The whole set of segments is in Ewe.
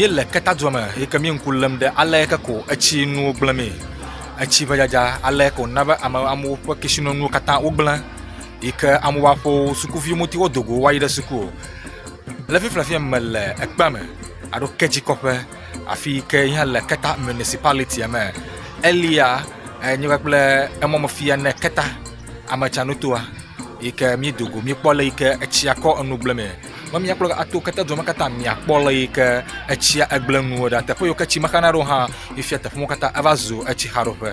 Míele Keta dua me yike mí ŋku lém ɖe ale ke ko etsi nuwo gblẽ mee. Etsi ƒe dzadza ale ke wòna be ame amewo ƒe kesinɔnuwo katã wogblẽ yike amewo va ƒo sukuviwo ŋuti wodo go wo va yi ɖe suku o. Le fifia le fia mele ekpea me alo ke dzi kɔƒe afi yi ke nye le Keta municipality me. Elia enye kpakple emɔmefia ne Keta. ametsanutoa yi ke míedo go míekpɔ le yi ke etsia kɔ enu gblẽ mee. Ne míakpɔ la ato ketedzua me katã miakpɔ le yi ke etsia gblẽ nuwo ɖa. Teƒe yi ke tsi mexana ɖo hã efia teƒe wo katã eva zu etsixaɖoƒe.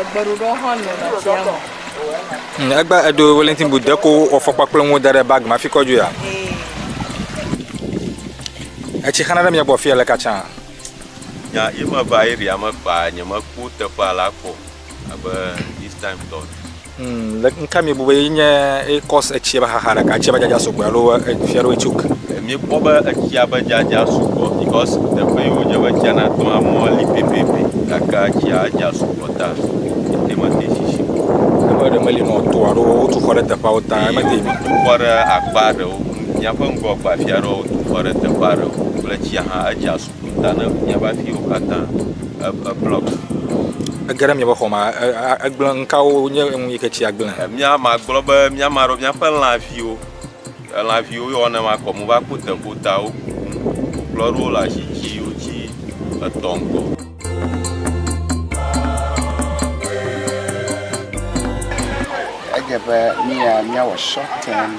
Egbeɖuɖɔ hã nɔ tsia me. Hmm, egbe edo Wellington boot ɖe ko ɔfɔkpa kple nuwo da ɖe bag ma fi kɔ dzo ya. Etsi xana ɖe mia gbɔ fia le katsa. Nya ye me va area me kpa nye me kpɔ teƒe ala kpɔ abe this time tɔ. Humm, le nuka miebu be ye nye eye cause etsia be xaxa ɖeka tsia be dzadza sugbɔ alo fia ɖewoe choke? Mi kpɔ be etsia be dzadza sugbɔ because teƒe yi wodze be tsia na tɔa mɔa li pɛpɛpɛ gake tsia dza sugbɔ ta ete me te sisi o. Teƒe ɖe meli nɔ to alo wotu xɔ ɖe teƒeawo ta eme te. Wo tu xɔ ɖe akpa ɖewo, miaƒe ŋgɔ gbafia ɖewo tu xɔ ɖe teƒe aɖewo kple tsia hã edza su. Eƒo ta ne miaƒe afiwo katã eblɔk. Ege ɖe miaƒe xɔ me egblẽ. Ŋkawo nye ŋu yi ke tsi agblẽ? Mía magblɔ be mía ame aɖewo míaƒe lãviwo, lãviwo yɔ ne makɔ mo va kpo te ƒo ta wo kuku kplɔ aɖewo le asi tsi wotsi etɔ̃ ŋgɔ. Edze be mía míawɔ short term.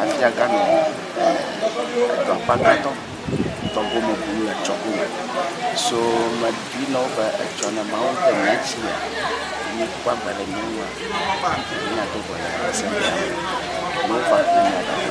afiaga nɔ edɔ akpagãtɔ dɔ gome bum le etsɔ gome so mebui na wo be etsɔ ne mawo ŋutɔ mia tsi me ne kpɔ agbe le mia ŋua mia do go le ese me ne wo va ku mia da ɖa.